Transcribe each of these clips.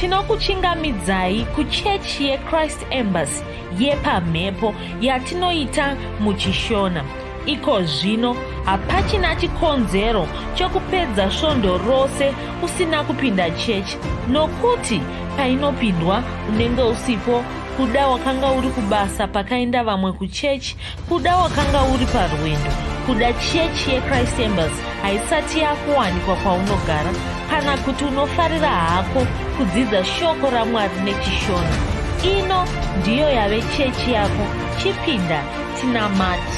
tinokuchingamidzai kuchechi yechrist embassy yepamhepo yatinoita muchishona iko zvino hapachina chikonzero chokupedza svondo rose usina kupinda chechi nokuti painopindwa unenge usipo kuda wakanga uri kubasa pakaenda vamwe kuchechi Kuda wakanga uri parwendo kuda chechi yechrist embers haisati yakuwanikwa kwaunogara kana kuti unofarira hako kudzidza shoko ramwari nechishona ino ndiyo yave chechi yako chipinda tinamati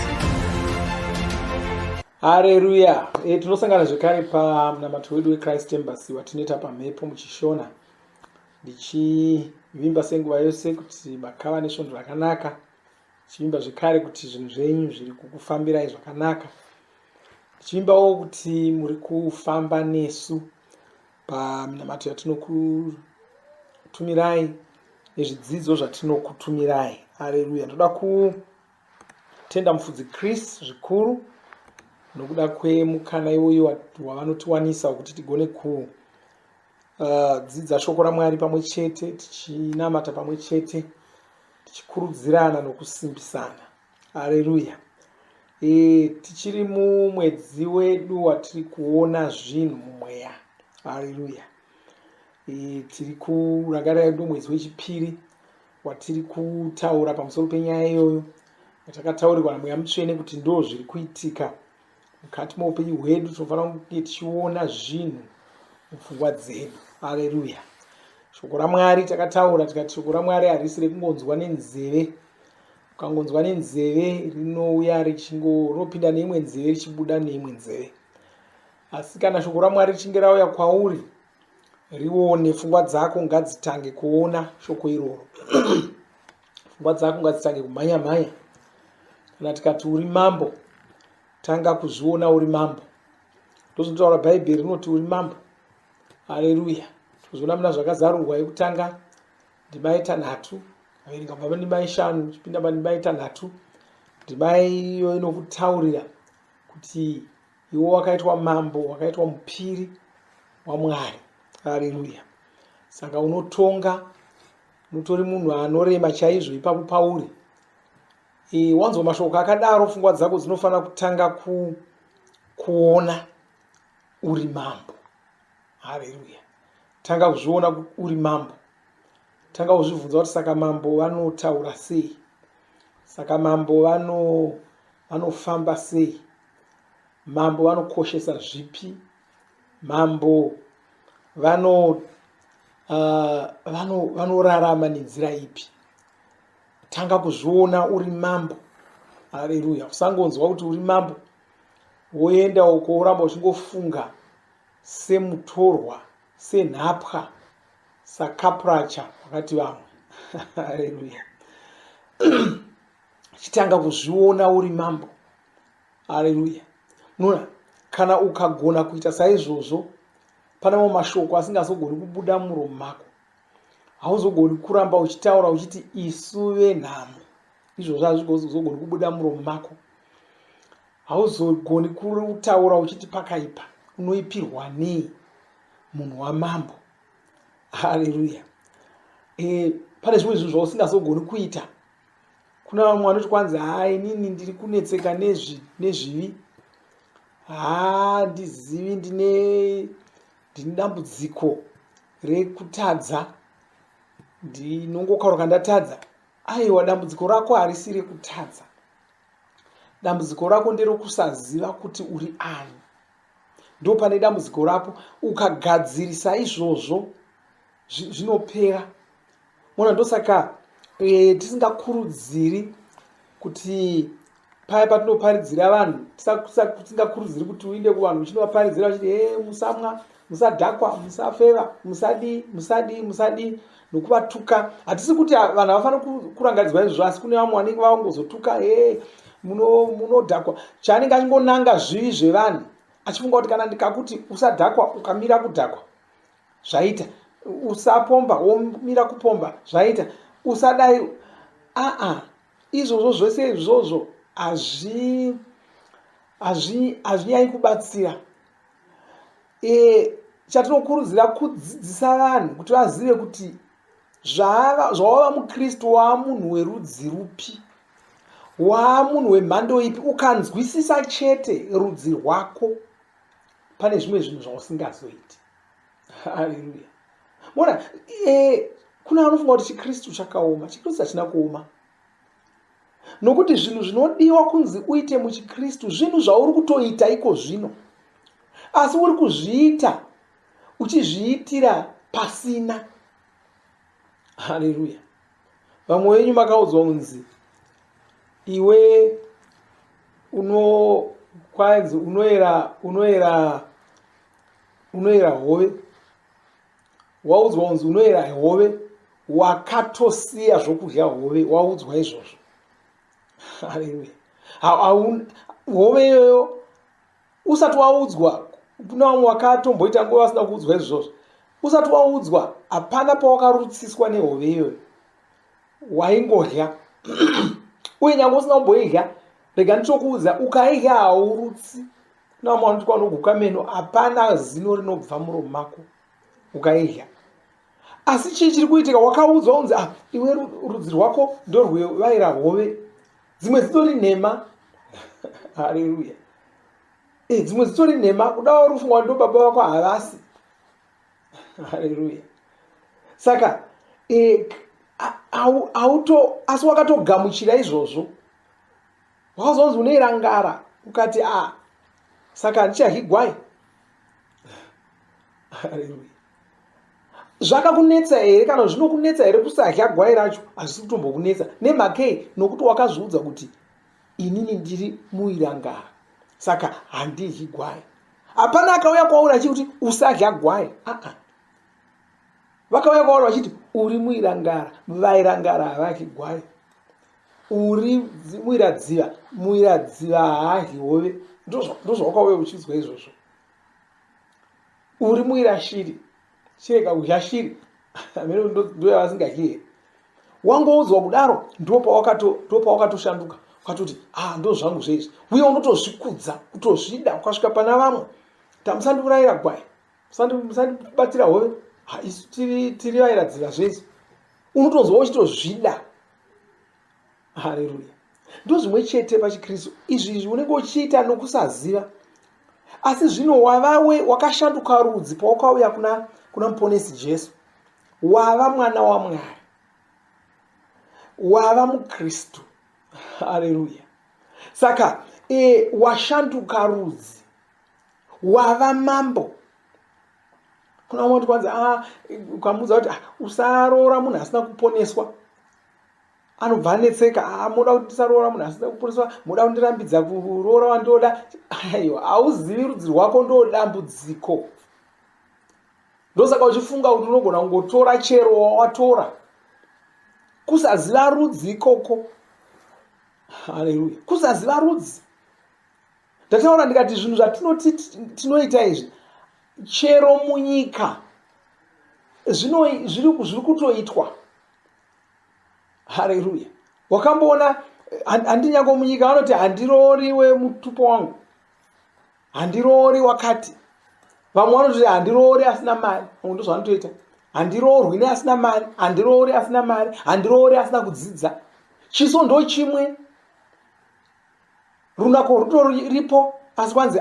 hareruya e, eh, tinosangana zvekare pamunamato wedu wechrist embers watinoita pamhepo muchishona ndichivimba senguva yose kuti makava nesvondo rakanaka Ndichivimba zvekare kuti zvinhu zvenyu zviri kukufambirai zvakanaka. Ndichivimbawo kuti muri kufamba nesu paminamato yatinokutumirai nezvidzidzo zvatinokutumirai. Aleluya. Ndoda kutenda mufudzi Chris zvikuru nokuda kwemukana iwoyo wavanotiwanisa wekuti tigone ku Uh, dzidza shoko ramwari pamwe chete tichinamata pamwe chete tichikurudzirana nokusimbisana hareruya e, tichiri mumwedzi wedu watiri kuona zvinhu mumweya hareruya e, tiri kurangarira yedu mwedzi wechipiri watiri kutaura pamusoro penyaya iyoyo yatakataurirwa namweya mutsvene kuti ndo zviri kuitika mukati meupenyu hwedu tinofanira kunge tichiona zvinhu mupfungwa dzedu aleluya shoko ramwari takataura tikati shoko ramwari harisi rekungonzwa nenzeve ukangonzwa nenzeve rinouya richingo rinopinda neimwe nzeve richibuda neimwe nzeve asi kana shoko ramwari richinge rauya kwauri rione pfungwa dzako ngadzitange kuona shoko iroro Pfungwa dzako ngadzitange kumhanya mhanya. Kana tikati uri mambo, tanga kuzviona uri mambo. Ndozvinotaura Bhaibheri rinoti uri mambo. Haleluya. Tozviona muna zvakazarurwa yekutanga ndimai tanhatu averenga kubva pandimai shanu chipinda pandimai tanhatu ndimai iyo inokutaurira kuti iwo wakaitwa mambo wakaitwa mupiri wamwari haleluya saka unotonga mutori munhu anorema chaizvo ipapo pauri e, wanzwa mashoko akadaro fungwa dzako dzinofanira kutanga ku, kuona uri mambo haleluya tanga kuzviona uri mambo tanga kuzvibvunza kuti saka mambo vanotaura sei saka mambo vano vanofamba sei mambo vanokoshesa zvipi Mambo vano uh, vano vanorarama nenzira ipi? Tanga kuzviona uri mambo. Haleluya! Usangonzwa kuti uri mambo woenda uko woramba uchingofunga semutorwa, senhapwa, sakapracha wakati vamwe. Haleluya! Chitanga kuzviona uri mambo. haleluya munoona kana ukagona kuita saizvozvo pane mamwe mashoko asingazogoni kubuda muromo mako hauzogoni kuramba uchitaura uchiti isu venhamo izvozvo hazvigozogoni kubuda muromo mako hauzogoni kutaura uchiti pakaipa unoipirwa nei munhu wamambo haleluya e, pane zvimwe zvinhu zvausingazogoni kuita Kuna vamwe vanoti kwanzi haa inini ndiri kunetseka nezvi nezvivi haa ndizivi ndine ndine dambudziko rekutadza ndinongokauruka ndatadza aiwa dambudziko rako harisi rekutadza dambudziko rako nderokusaziva kuti uri ani ndo pane dambudziko rako ukagadzirisa izvozvo zvinopera mona ndosaka e, tisingakurudziri kuti paya patinoparidzira vanhu tisingakurudziri kuti uinde kuvanhu uchinovaparidzira vachiti e musamwa musadhakwa musafeva musadii musadii musadii nokuvatuka hatisi kuti vanhu havafanira kurangaridzwa izvozvo asi kune vamwe vanenge vavangozotuka e munodhakwa muno chaanenge achingonanga zvivi zvevanhu achifunga kuti kana ndikakuti usadhakwa ukamira kudhakwa zvaita usapomba womira kupomba zvaita usadai aa izvozvo zvese izvozvo hazvi hazvi hazvinyai kubatsira e, chatinokurudzira kudzidzisa vanhu kuti vazive kuti zvawava mukristu waa munhu werudzi rupi waa munhu wemhando ipi ukanzwisisa chete rudzi rwako pane zvimwe zvinhu zvausingazoiti haleluya mona eh, kuna anofunga kuti chikristu chakaoma chikristu hachina kuoma nokuti zvinhu zvinodiwa kunzi uite muchikristu zvinhu zvauri kutoita iko zvino asi uri kuzviita uchizviitira pasina haleluya vamwe wenyu makaudzwa kunzi iwe unokwanzi unoera unoera unoera hove waudzwa kunzi unoera hove wakatosiya zvokudya hove waudzwa izvozvo hove iyoyo usati waudzwa kuna vamwe wakatomboita nguva vasina kuudzwa izvozvo usati waudzwa hapana pawakarutsiswa nehove iyoyo waingodya uye nyange usina kumboidya rega ndichokuudza ukaidya haurutsi kuna vamwe vanoti kwanoguka meno hapana zino rinobva muromo mako ukaidya asi chii chiri kuitika wakaudzwa unzi ah, iwe rudzi rwako ndorwevaira hove dzimwe dzitori nhema haleluya eh, dzimwe dzitori nhema kuda wari ufunga ndo baba vako havasi haleluya saka eh, auto asi wakatogamuchira izvozvo wakazonzi uneirangara ukati a ah, saka ndichahigwai haleluya zvakakunetsa here kana zvinokunetsa here kusadya gwai racho hazvisi kutombokunetsa nemhakei nokuti wakazviudza kuti inini ndiri muirangara saka handidyi gwai hapana akauya kwauri achikuti usadya gwai aa vakauya kwauri vachiti uri muirangara vairangara havadyi gwai uri muiradziva muiradziva haadyi hove ndozvawakauya uchiudzwa izvozvo uri muira shiri chirega kudya shiri amene ndoyavasingadye wangoudzwa kudaro ndipo pawakato- ndipo pawakatoshanduka ukatoti ah ndo zvangu zveizvi uye unotozvikudza kutozvida ukasvika pana vamwe ta musandiurayira gwai musandi- musandibatira hove Ha, isu tiri tiri vairadziva zveizvi unotonzwa uchitozvida Haleluya. Ndozvimwe chete pachiKristu. Izvi izvi unenge uchiita nokusaziva. Asi zvino wavawe wakashanduka rudzi pawakauya kuna kuna muponesi Jesu. Wava mwana waMwari. Wava muKristu. Haleluya. Saka e, washanduka rudzi. Wava mambo. Kuna umwe kuti kwanzi ah ukamudza kuti ah, usaroora munhu asina kuponeswa. anobva anetseka ah, moda kuti ndisaroora munhu asina kuporeswa moda kundirambidza kuroora wandoda aiwa hauzivi rudzi rwako ndodambudziko ndosaka uchifunga kuti unogona kungotora chero wawatora kusaziva rudzi ikoko haleluya kusaziva rudzi ndataura ndikati zvinhu zvatinoti tinoita izvi chero munyika zviri kutoitwa hareruya wakamboona handinyango munyika vanoti handiroori wemutupo wangu handiroori wakati vamwe vanoti handiroori asina mari vamwe ndozvanotoita handiroorwi ne asina mari handiroori asina mari handiroori asina kudzidza chiso ndo chimwe runako rutoripo asi kwanzi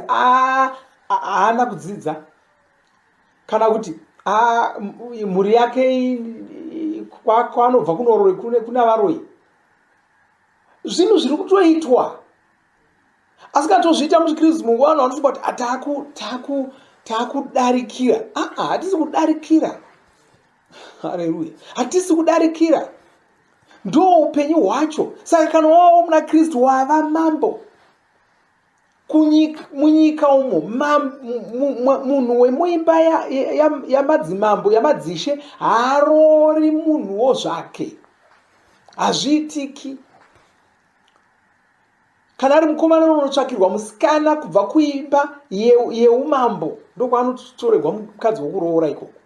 haana kudzidza kana kuti ah, mhuri yake kwaanobva kunoroi kuna varoi zvinhu zviri kutoitwa asi kana tozviita muchikristu mungu vanhu vanofunga kuti ah, taakudarikira aa ah, hatisi kudarikira hareruya hatisi kudarikira ndo upenyu hwacho saka kana wawo muna kristu wava mambo kunyika, munyika umo munhu wemuimba yamadzimambo ya, ya yamadzishe haarori munhuwo zvake hazviitiki kana ari mukomana unotsvakirwa musikana kubva kuimba yeumambo ye ndokwaanotoregwa mukadzi wokuroora ikoko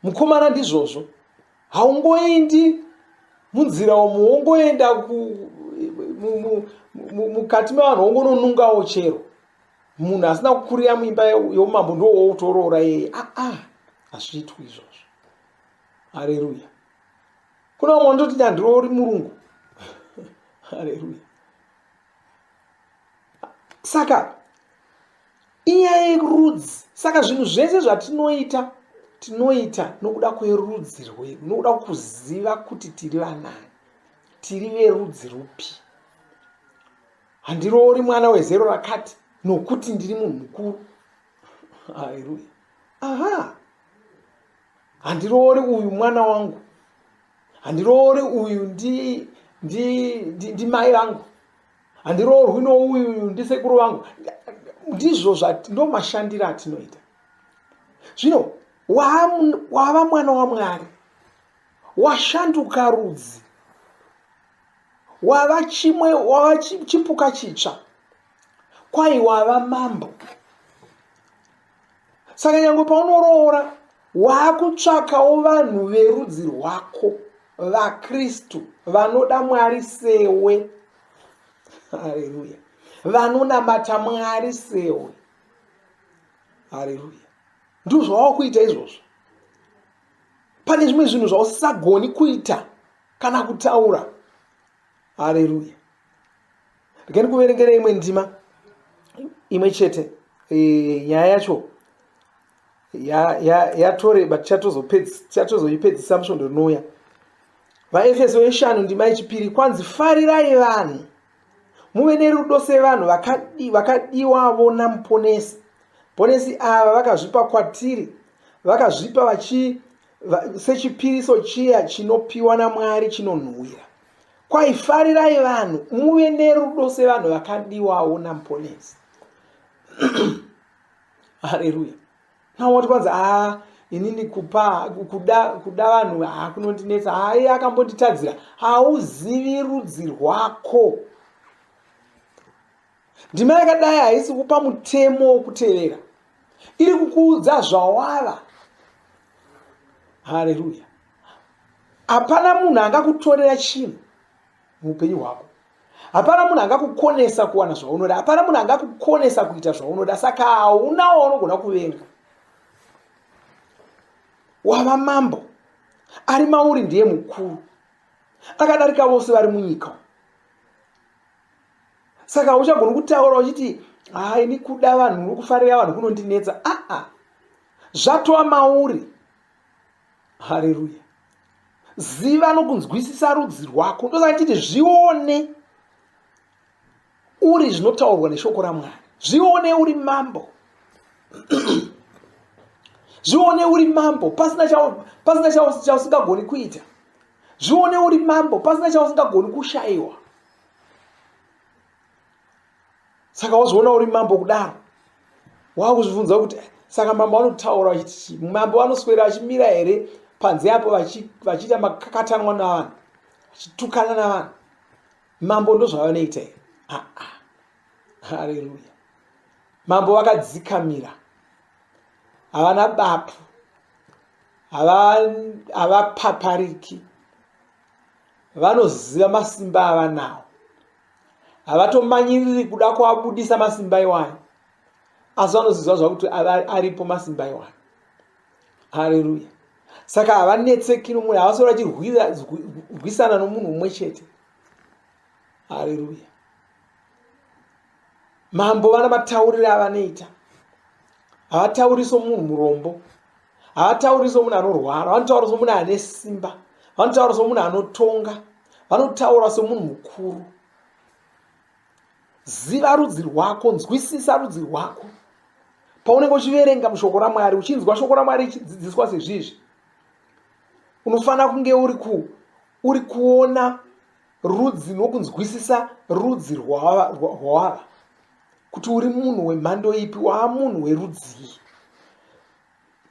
mukomana ndizvozvo haungoendi munzira umu wongoenda mukati mevanhu wongononungawo chero munhu asina kukurira muimba yeumambo ndowoutorora yeye aa ah, ah, hazviitwi izvozvo hareruya kuna umwe ndoti ndandiroori murungu hareruya saka inyaya yerudzi saka zvinhu zvese zvatinoita tinoita nokuda kwerudzi rwedu nokuda kuziva kuti tiri vanani tiri verudzi rupi handiroori mwana wezero rakati nokuti ndiri munhu mukuru haleluya aha handiroori uyu mwana wangu handiroore uyu ndi ndi ndi, ndi mai vangu handiroorwi nouyu uyu ndi sekuru vangu ndizvo ndo mashandiro atinoita zvino wava mwana wamwari washanduka rudzi wava chimwe wava chipuka chitsva kwai wava mambo saka nyange paunoroora waakutsvakawo vanhu verudzi rwako vakristu vanoda mwari sewe hareruya vanonamata mwari sewe hareruya ndozvawava kuita izvozvo pane zvimwe zvinhu zvausisagoni kuita kana kutaura hareruya Regai ndikuverengera imwe ndima imwe chete e, nyaya yacho yatoreba tichatozoipedzisa musvondo rinouya vaefeso yeshanu ndima yechipiri kwanzi farirai vanhu muve nerudo sevanhu vakadiwavo namuponesi ponesi ava vakazvipa kwatiri vakazvipa vachi sechipiriso chiya chinopiwa namwari chinonhuwira Kwai farirai vanhu muve nerudo sevanhu vakadiwawo naMponesi. Haleluya. Now what kwanza ah inini kupa kuda kuda vanhu ah kunondinetsa ah iye akambonditadzira hauzivi rudzi rwako. Ndima yakadai haisi kupa mutemo wokutevera. Iri kukuudza zvawava. Haleluya. hapana munhu angakutorera chinhu muupenyu hwako hapana munhu angakukonesa kuwana zvaunoda hapana munhu angakukonesa kuita zvaunoda saka hauna waunogona kuvenga wava mambo ari mauri ndiye mukuru akadarika vose vari munyika saka uchagoni kutaura uchiti haa ini kuda vanhu uri kufarira vanhu kunondinetsa aa zvatova mauri hareruya ziva nokunzwisisa rudzi rwako ndosaka chiti zvione uri zvinotaurwa neshoko ramwari zvione uri mambo zvione uri mambo pasina chausingagoni kuita zvione uri mambo pasina chausingagoni kushayiwa saka wazoona uri mambo kudaro waakuzvibvunza kuti eh, saka mambo anotaura achiti mambo anoswera achimira here panze apo vachiita makakatanwa navanhu vachitukana navanhu mambo ndozvavanoita here ah, ah. hareruya mambo vakadzikamira havana bapu havapapariki vanoziva masimba avanawo havatomanyiriri kuda kuabudisa masimba iwayo asi vanoziva zvakuti aripo masimba iwayo hareruya saka havanetsekiri mune havasori vachirwisana nomunhu umwe chete hareruya mambo vana mataurire avanoita havatauriso munhu murombo havatauri somunhu anorwara vanotaura somunhu ane simba vanotaura somunhu anotonga vanotaura somunhu mukuru ziva rudzi rwako nzwisisa rudzi rwako paunenge uchiverenga mushoko ramwari uchinzwa shoko ramwari ichidzidziswa sezvizvi unofanira kunge uri ku uri kuona rudzi nokunzwisisa rudzi rwawava kuti uri munhu wemhando ipi waamunhu werudzii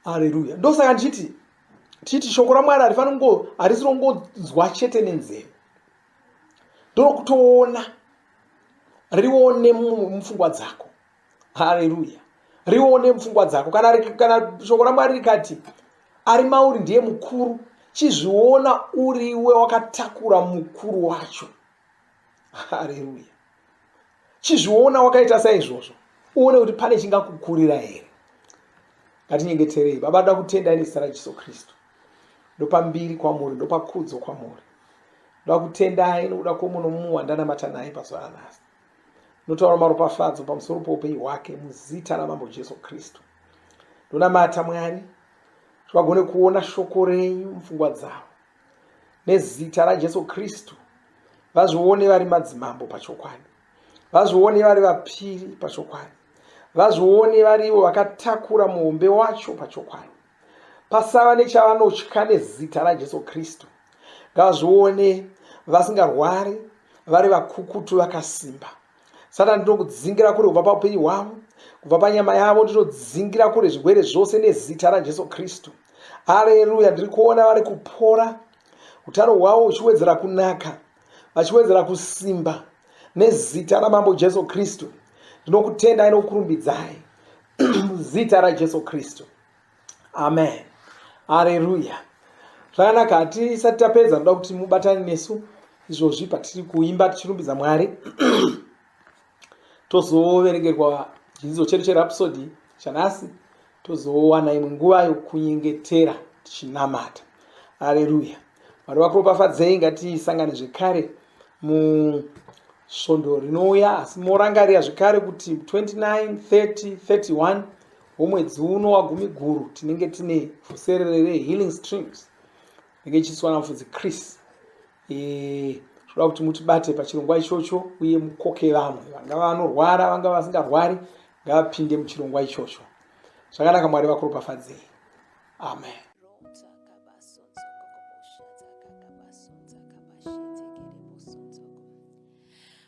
hareruya ndosaka ndichiti tichiti shoko ramwari harifaniri kungo harisi rongonzwa chete nenzeve ndorokutoona rione mupfungwa dzako hareruya rione mupfungwa dzako kana, kana shoko ramwari rikati ari mauri ndiye mukuru chizviona uriwe wakatakura mukuru wacho haleluya chizviona wakaita saizvozvo uone kuti pane chingakukurira here ngatinyengeterei baba da kutenda ine zita rajesu kristu ndopambiri kwamuri ndopakudzo kwamuri ndoda kutendai nokuda kwomuno mumwe wandanamata naye pazuva ranhasi notaura maropafadzo pamusoro poupenyu hwake muzita ramambo jesu kristu ndonamata mwari kuti vagone kuona shoko renyu mupfungwa dzavo nezita rajesu kristu vazvione vari madzimambo pachokwadi vazvione vari vapiri pachokwadi vazvione varivo vakatakura muhombe wacho pachokwadi pasava nechavanotya nezita rajesu kristu ngavazvione vasingarwari vari vakukutu vakasimba satani ndinokudzingira kure kubva paupenyu hwavo kubva panyama yavo ndinodzingira kure zvirwere zvose nezita rajesu kristu areruya ndiri kuona vari kupora utano hwavo huchiwedzera kunaka vachiwedzera kusimba nezita ramambo jesu kristu ndinokutendai nokukurumbidzai zita rajesu kristu amen hareruya zvakanaka hatisati tapedza ndoda kuti mubatane nesu izvozvi patiri kuimba tichirumbidza mwari tozoverengerwa chidzidzo chedu cherapsody chanhasi tozowana imwe nguva yokunyengetera tichinamata aleluya mwari vakuropafadzei ngatisangane zvekare musvondo rinouya asi morangarira zvekare kuti 29 30 31 womwedzi uno wagumiguru tinenge tine fuserere rehealing streams inenge ichiiswa namufudzi chris zvoda e, kuti mutibate pachirongwa ichocho uye mukoke vamwe vangava vanorwara vangava vasingarwari ngavapinde muchirongwa ichocho zvakanaka mwari vakuropafadzei amen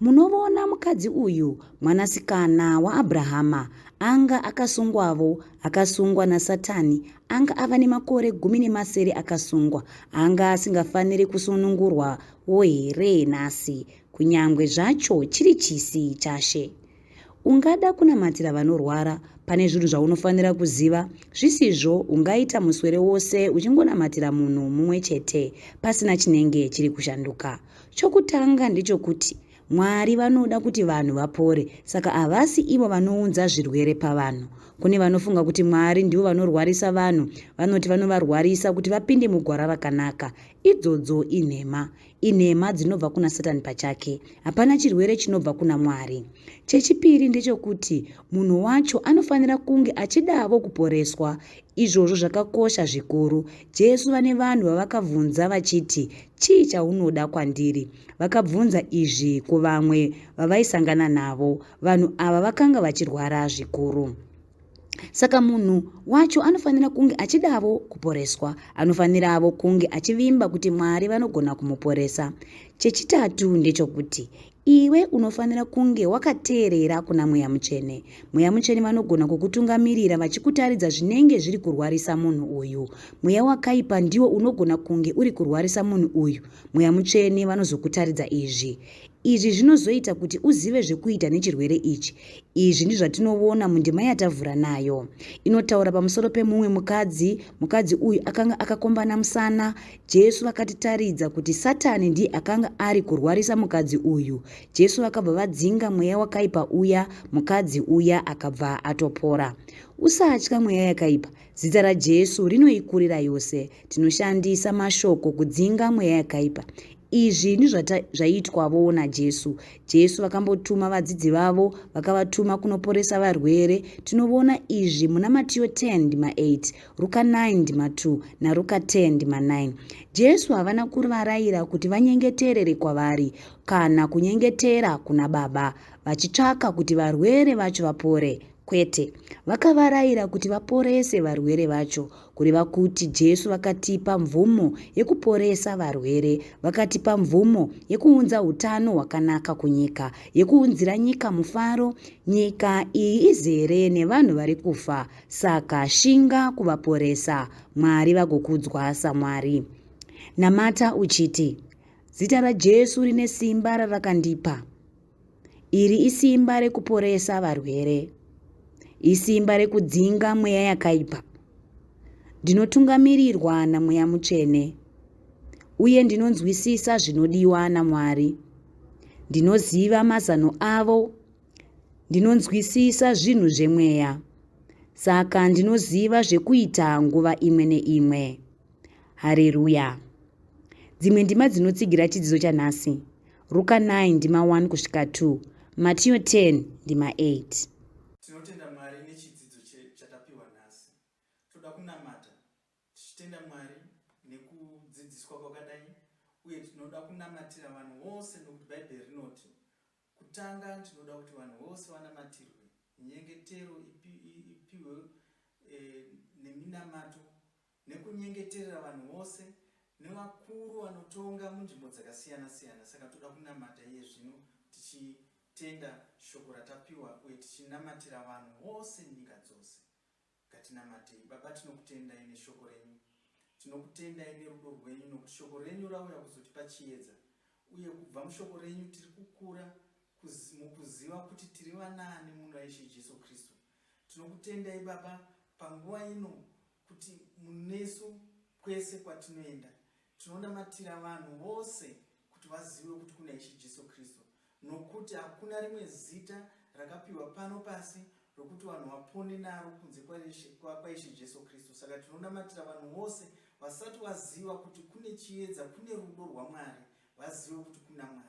Munovona mukadzi uyu, mwanasikana waAbrahama, anga akasungwavo, akasungwa naSatani, anga ava nemakore gumi nemasere akasungwa, anga asingafaniri kusunungurwavo here nhasi, kunyangwe zvacho chiri chisi chaShe? Ungada kunamatira vanorwara pane zvinhu zvaunofanira kuziva, zvisizvo ungaita muswere wose uchingonamatira munhu mumwe chete pasina chinenge chiri kushanduka. Chokutanga ndechokuti Mwari vanoda kuti vanhu vapore, saka havasi ivo vanounza zvirwere pavanhu. Kune vanofunga kuti Mwari ndivo vanorwarisa vanhu, vanoti vanovarwarisa kuti vapinde mugwara rakanaka. Idzodzo inhema. inhema dzinobva kuna satani pachake hapana chirwere chinobva kuna mwari chechipiri ndechokuti munhu wacho anofanira kunge achidavo kuporeswa izvozvo zvakakosha zvikuru jesu vane vanhu vavakabvunza vachiti chii chaunoda kwandiri vakabvunza izvi kuvamwe vavaisangana navo vanhu ava vakanga vachirwara zvikuru Saka munhu wacho anofanira kunge achidavo kuporeswa. Anofaniravo kunge achivimba kuti Mwari vanogona kumuporesa. Chechitatu ndechokuti iwe unofanira kunge wakateerera kuna Mweya Mutsvene. Mweya Mutsvene vanogona kukutungamirira vachikutaridza zvinenge zviri kurwarisa munhu uyu. Mweya wakaipa ndiwo unogona kunge uri kurwarisa munhu uyu. Mweya Mutsvene vanozokutaridza izvi. Izvi zvinozoita kuti uzive zvekuita nechirwere ichi. Izvi ndizvatinovona mundima yatavhura nayo. Inotaura pamusoro pemumwe mukadzi, mukadzi uyu akanga akakombana musana. Jesu vakatitaridza kuti Satani ndiye akanga ari kurwarisa mukadzi uyu. Jesu vakabva vadzinga mweya wakaipa uya, mukadzi uya akabva atopora. Usatya mweya yakaipa. Zita raJesu rinoikurira yose. Tinoshandisa mashoko kudzinga mweya yakaipa. Izvi ndizvazvaitwavo naJesu. Jesu vakambotuma vadzidzi vavo vakavatuma kunoporesa varwere. Tinovona izvi muna Matiyo 10 ndima 8, Ruka 9 ndima 2 naRuka 10 ndima 9. Jesu havana kurivaraira kuti vanyengeterere kwavari kana kunyengetera kuna Baba vachitsvaka kuti varwere vacho vapore. Kwete, vakavaraira kuti vaporese varwere vacho, kureva kuti Jesu vakatipa mvumo yekuporesa varwere, vakatipa mvumo yekuunza utano hwakanaka kunyika, yekuunzira nyika mufaro. Nyika iyi izere nevanhu vari kufa, saka shinga kuvaporesa, Mwari vagokudzwa saMwari. Namata uchiti, Zita raJesu rine simba rarakandipa. Iri isimba rekuporesa varwere, isimba rekudzinga mweya yakaipa. Ndinotungamirirwa naMweya Mutsvene uye ndinonzwisisa zvinodiwa naMwari. Ndinoziva mazano avo, ndinonzwisisa zvinhu zvemweya, saka ndinoziva zvekuita nguva imwe neimwe. Hareruya. Dzimwe ndima dzinotsigira chidzidzo chanhasi. Ruka 9 ndima 1 kusvika 2. Matiyo 10 ndima 8. Tinotenda Mwari nechidzidzo chatapiwa nhasi. Toda kunamata tichitenda Mwari nekudzidziswa kwakadai uye tinoda kunamatira vanhu vose nokuti Bhaibheri rinoti kutanga tinoda kuti vanhu vose vanamatirwe nyengetero ipiwe eh, neminamato nekunyengeterera vanhu vose nevakuru vanotonga munzvimbo dzakasiyana siyana saka toda kunamata iye zvino tichitenda shoko ratapiwa uye tichinamatira vanhu vose nyika dzose ngatinamatei baba tinokutendai neshoko renyu tinokutendai nerudo rwenyu nokuti shoko renyu rauya kuzotipa chiedza uye kubva mushoko renyu tiri kukura mukuziva kuti tiri vanaani muna ishe jesu kristu Tinokutendai Baba panguva ino kuti munesu kwese kwatinoenda. Tinonamatira vanhu vose kuti vazive kuti kuna Ishe Jesu Kristu nokuti hakuna rimwe zita rakapiwa pano pasi rokuti vanhu vapone naro kunze kwaIshe Jesu Kristu. Saka tinonamatira vanhu vose vasati vaziva kuti kune chiedza, kune rudo rwaMwari, vazive kuti kuna Mwari.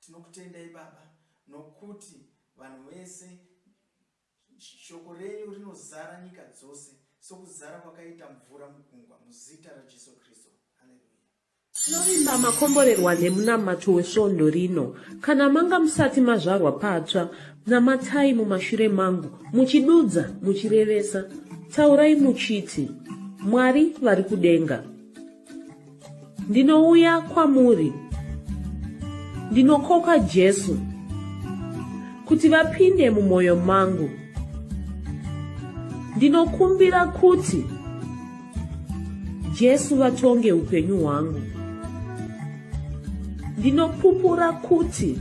Tinokutendai baba nokuti vanhu vese shoko renyu rinozara nyika dzose sokuzara kwakaita mvura mugungwa muzita raJesu Kristu. Haleluya. Tinovimba makomborerwa nemunamato wesvondo rino. Kana manga musati mazvarwa patsva, namatai mumashure mangu, muchidudza, muchirevesa. Taurai muchiti, Mwari vari kudenga. ndinouya kwamuri ndinokoka jesu kuti vapinde mumwoyo mangu ndinokumbira kuti jesu vatonge upenyu hwangu ndinopupura kuti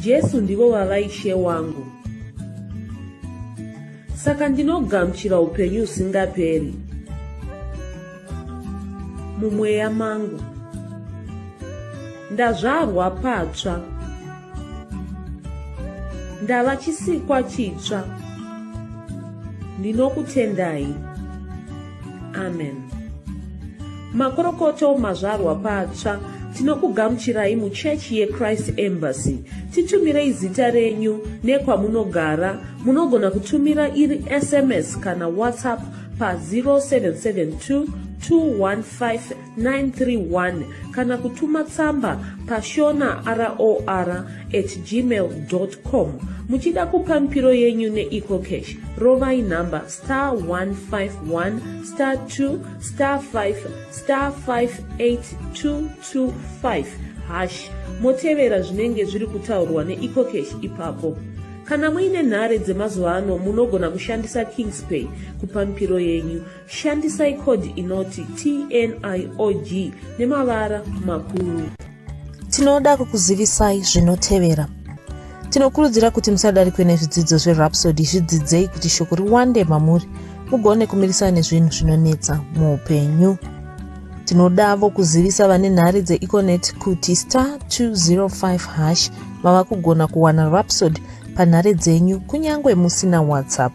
jesu ndivo vava ishe wangu saka ndinogamuchira upenyu usingaperi mumweya mangu ndazvarwa patsva ndava chisikwa chitsva ndinokutendai amen makorokoto mazvarwa patsva tinokugamuchirai muchechi yechrist embassy titumirei zita renyu nekwamunogara munogona kutumira iri sms kana whatsapp pa 0772 215 931 kana kutuma tsamba pashona ror at gmail com muchida kupa mipiro yenyu neecocash rovai nhamba star 151 star 2 star 5 star 58225 hash motevera zvinenge zviri kutaurwa neecocash ipapo kana muine nhare dzemazuva ano munogona kushandisa kingspay kupa mipiro yenyu Shandisai code inoti TNIOG nemavara makuru. Tinoda kukuzivisai zvinotevera. Tinokurudzira kuti musadarikwe nezvidzidzo zveRhapsody zvidzidzei kuti shoko riwande mamuri mugone kumirisana nezvinhu zvinonetsa muupenyu. Tinodavo kuzivisa vane nhare dzeEconet kuti star 205 hash mava kugona kuwana Rhapsody panhare dzenyu kunyange musina WhatsApp.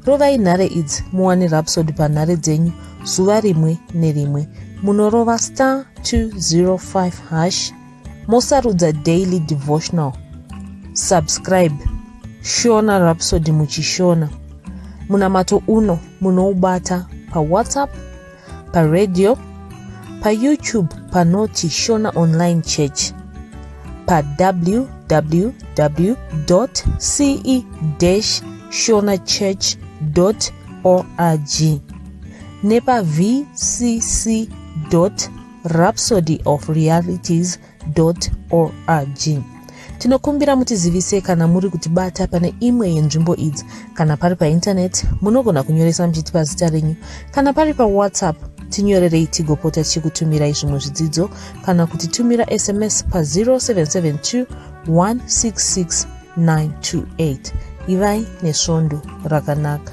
rovai nhare idzi muwane rapsod panhare dzenyu zuva rimwe nerimwe munorova star 205 hash mosarudza daily devotional subscribe shona rapsod muchishona munamato uno munoubata pawhatsapp paradio payoutube panoti shona online church pawww ce shona church org nepavcc rhapsody of realities org tinokumbira mutizivise kana muri kutibata pane imwe yenzvimbo idzi kana pari paintaneti munogona kunyoresa muchiti pazita renyu kana pari pawhatsapp tinyorerei tigopota tichikutumirai zvimwe zvidzidzo kana kuti tumira sms pa0772 166 928 ivai nesvondo rakanaka